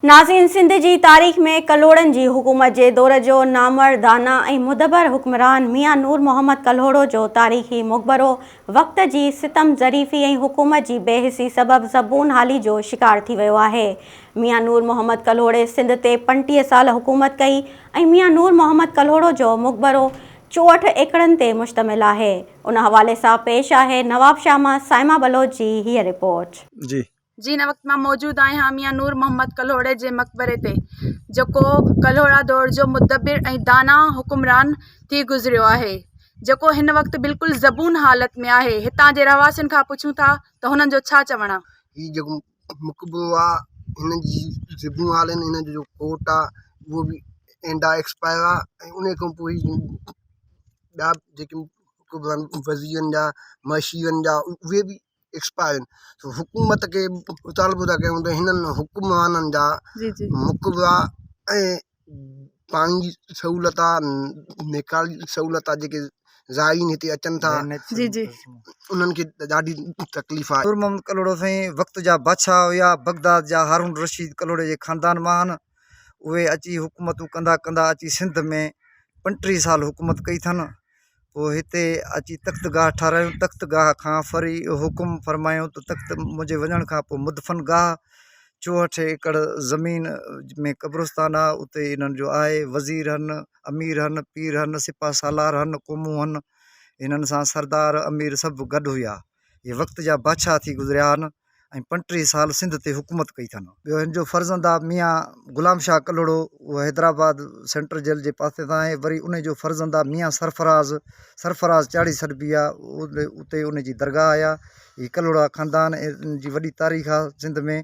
ناظرين سنڌ جي تاريخ ۾ ڪلهوڙن جي حڪومت جي دور جو نامور داناء ۽ مدبر حڪمران ميان نور محمد ڪلهوڙو جو تاريخي مقبرو وقت جي ستم ظريفي ۽ حڪومت جي بي حسي سبب زبون حالي جو شڪار ٿي ويو آهي ميان نور محمد ڪلهوڙي سنڌ تي پنٽيهه سال حڪومت ڪئي ۽ ميان نور محمد ڪلهوڙو جو مقبرو چوهٺ ايڪڙن تي مشتمل آهي ان حوالي سان پيش آهي نوابشاهه مان صائمه بلوچ جي هيء رپورٽ. جي جي هن وقت مان موجود آهيان ميان نور محمد ڪلهوڙي جي مقبري تي جيڪو ڪلهوڙا دور جو مدبر ۽ داناء حڪمران ٿي گذريو آهي جيڪو هن وقت بلڪل زبون حالت ۾ آهي هتان جي رهواسين کان پڇون ٿا ته هنن جو ڇا چوڻ آهي. هي جيڪو مقبرو آ هن جي زبون حال آهن هن جو جو ڪوٽ آ اهو به اينڊا ايڪسپائر آ ۽ انهي کان پوء هي ٻيا جيڪي مقبرا آهن وزيرن جا معاشيرن جا اهي به ايڪسپائرين حڪومت کي مطالبو ٿا ڪيون ته هنن حڪمرانن جا مقبرا ۽ پاڻي جي سهولت آهي نيڪال جي سهولت آهي جيڪي زائرين هتي اچن ٿا انهن کي ڏاڍي تڪليف آهي نور محمد ڪلهوڙو سائين وقت جا بادشاهه هيا بغداد جا هارون رشيد ڪلهوڙي جي خاندان مان آهن اهي اچي حڪومتون ڪندا ڪندا اچي سنڌ ۾ پنٽيهه سال حڪومت ڪئي اٿن پوء هتي اچي تخت گاهه ٺاراهيون تخت گاهه کان وري حڪم فرمايو ته تخت منهنجي وڃڻ کان پوء مدفن گاهه چوهٺ ايڪڙ زمين ۾ قبرستان آهي اتي انهن جو آهي وزير هن امير هن پير هن سپاهه سالار هن قومون هن هنن سان سردار امير سڀ گڏ هيا هي وقت جا بادشاهه ٿي گذريا آهن ۽ پنٽيهه سال سنڌ تي حڪومت ڪئي اٿن ٻيو هن جو فرزند آهي ميان غلام شاهه ڪلهوڙو اهو حيدرآباد سينٽرل جيل جي پاسي تان آهي وري ان جو فرزند آهي ميان سرفراز سرفراز چاڙهي سڏبي آهي اتي ان جي درگاهه آهي هي ڪلهوڙا خاندان جي وڏي تاريخ آهي سنڌ ۾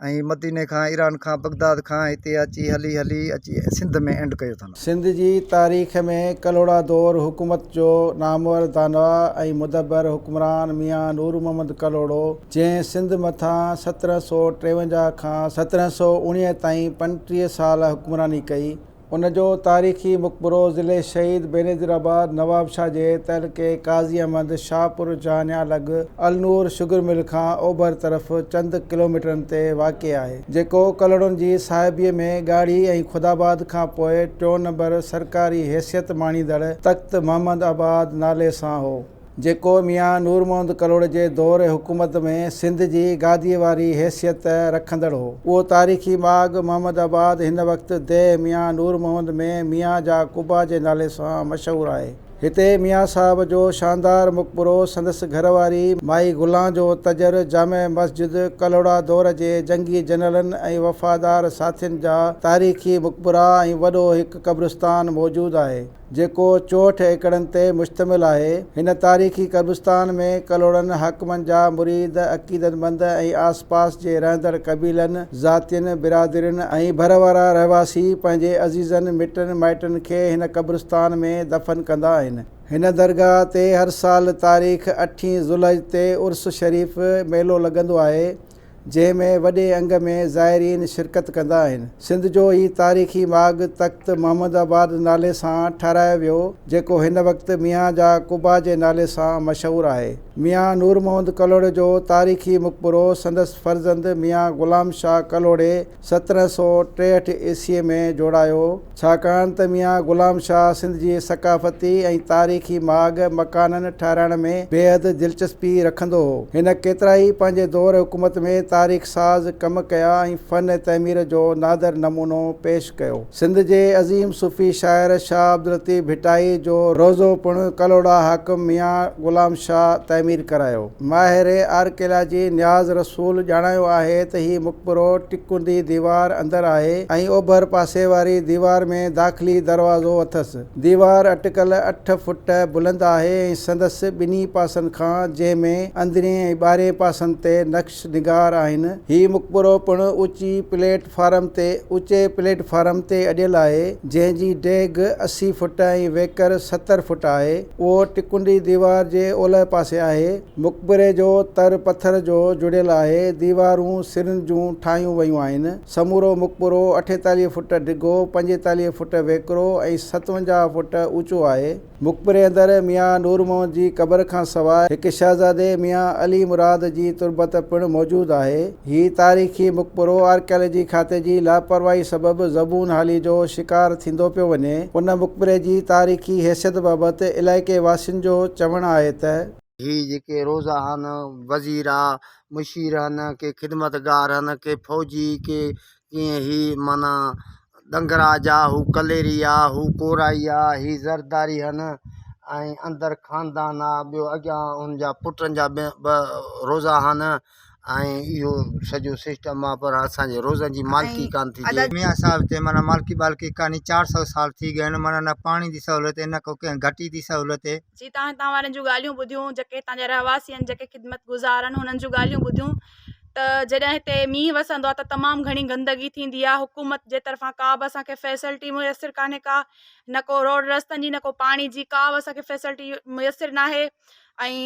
۽ مديني کان ايران کان بغداد کان هتي اچي هلي هلي اچي سنڌ ۾ اينڊ ڪيو اٿن. سنڌ جي تاريخ ۾ ڪلهوڙا دور حڪومت جو نامور داناء ۽ مدبر حڪمران ميان نور محمد ڪلهوڙو جنهن سنڌ مٿان سترهن سؤ ٽيونجاهه کان سترهن سؤ اوڻيهه تائين پنٽيهه سال حڪمراني ڪئي ان جو تاريخي مقبرو ضلعي شهيد بينظير آباد نوابشاهه جي تعلقي قاضي احمد شاهپور جهانيان لڳ النور شگر مل کان اوڀر طرف چند ڪلوميٽرن تي واقع آهي، جيڪو ڪلهوڙن جي صاحبيء ۾ ڳاڙهي ۽ خداآباد کان پوء ٽيون نمبر سرڪاري حيثيت ماڻيندڙ تخت محمد آباد نالي سان هو. جيڪو ميان نور محمد ڪلهوڙي جي دور حڪومت ۾ سنڌ جي گاديء واري حيثيت رکندڙ هو. اهو تاريخي ماڳ محمد آباد هن وقت ديهه ميان نور محمد ۾ ميان جا قبا جي نالي سان مشهور آهي. هتي ميان صاحب جو شاندار مقبرو، سندس گهر واري مائي گلان جو تجر، جامع مسجد، ڪلهوڙا دور جي جنگي جنرلن ۽ وفادار ساٿين جا تاريخي مقبرا ۽ وڏو هڪ قبرستان موجود آهي. جيڪو چوهٺ ايڪڙن تي مشتمل آهي. هن تاريخي قبرستان ۾ ڪلهوڙن حاڪمن جا مريد، عقيدتمند ۽ آس پاس جي رهندڙ قبيلن، ذاتين، برادرين ۽ ڀر وارا رهواسي پنهنجي عزيزن، مٽن مائٽن کي هن قبرستان ۾ دفن ڪندا آهن. هن درگاهه تي هر سال تاريخ اٺين ذوالحج تي عرس شريف، ميلو، لڳندو آهي. جنهن ۾ وڏي انگ ۾ زائرين شرڪت ڪندا آهن. سنڌ جو هي تاريخي ماڳ تخت محمد آباد نالي سان ٺهرايو ويو جيڪو هن وقت ميان جا قبا جي نالي سان مشهور آهي. ميان نورمحمد ڪلهوڙي جو تاريخي مقبرو سندس فرزند ميان غلام شاهه ڪلهوڙي سترهن سؤ ٽيهٺ عيسويء ۾ جوڙايو، ڇاڪاڻ ته ميان غلام شاهه سنڌ جي ثقافتي ۽ تاريخي ماڳ مڪانن ٺهرائڻ ۾ بيحد دلچسپي رکندو هو. هن ڪيترائي پنهنجي دور حڪومت ۾ تاريخ ساز ڪم ڪيا ۽ فن تعمير جو نادر نمونو پيش ڪيو. سنڌ جي عظيم صوفي شاعر شاهه عبداللطيف ڀٽائي جو روضو پڻ ڪلهوڙا حاڪم ميان غلام شاهه تعمير ڪرايو. ماهر آرڪيالاجي نياز رسول ڄاڻايو آهي ته هي مقبرو ٽڪندي ديوار اندر آهي ۽ اوڀر پاسي واري ديوار ۾ داخلي دروازو اٿس. ديوار اٽڪل اٺ فوٽ بلند آهي ۽ سندس ٻنهي پاسن کان جنهن ۾ اندرين ۽ ٻاهرين پاسن تي نقش نقش نگار آهن. هي مقبرو پڻ اوچي پليٽ فارم تي اوچي پليٽ فارم تي اڏيل آهي، جنهن جي ڊيگهه اسي فوٽ ۽ ويڪر ستر فوٽ آهي. اهو ٽڪنڊي ديوار جي اولهه پاسي آهي. مقبري جو تر پٿر جو جڙيل آهي. ديوارون سرن جون ٺاهيون ويون آهن. سمورو مقبرو اٺيتاليهه فوٽ ڊگهو، پنجيتاليهه فوٽ ويڪرو ۽ ستونجاهه فوٽ اوچو آهي. مقبري اندر ميان نور محمد جي قبر کان سواء هڪ شهزادي ميان علي مراد جي تربت پڻ موجود آهي. هي تاريخي مقبرو آرڪيالاجي کاتي جي لاپرواهي سبب زبون حالي جو شڪار ٿيندو پيو وڃي. ان مقبري جي تاريخي حيثيت بابت علائقي واسين جو چوڻ آهي ته. هي جيڪي روضا هن، وزيرا، مشير هن، ڪي خدمتگار هن، ڪي فوجي، ڪي جيئن هي معنيٰ ڏنگراج آ، هو ڪليري آ، هو ڪورائي آ، هي زرداري هن ۽ اندر خاندان آ، ٻيو اڳيان هن جا پٽن جا به روزا هن ۽ اهو سڄو سسٽم آ پر اسان جي روزن جي مالڪي ڪانه ٿي ٿئي. ميان صاحب تي معنيٰ مالڪي ٻالڪي ڪاني چار سؤ سال ٿي گئن معنيٰ نه پاڻي دي سهولت هي نه ڪو ڪنهن گهٽي دي سهولت هي. جي تان هتان وارن جون ڳالهيون ٻڌيون جيڪي هتان جا رهواسي هن جيڪي خدمت گذار هن هنن جون ڳالهيون ٻڌيون. ته جڏهن هتي مينهن وسندو آهي ته تمام گهڻي گندگي ٿيندي آهي حڪومت جي طرفان ڪا به اسان کي فيسلٽي ميسر ڪانهي ڪا نه ڪو روڊ رستن جي نه ڪو پاڻي جي ڪا به اسان کي فيسلٽي ميسر نه آهي ۽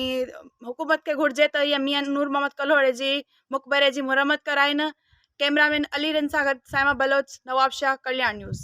حڪومت کي گهرجي ته ائين ميان نور محمد ڪلهوڙي جي مقبري جي مرمت ڪرائين ڪيمرا مين علي رند سان گڏ سائما بلوچ نوابشاهه ڪلياڻ نيوز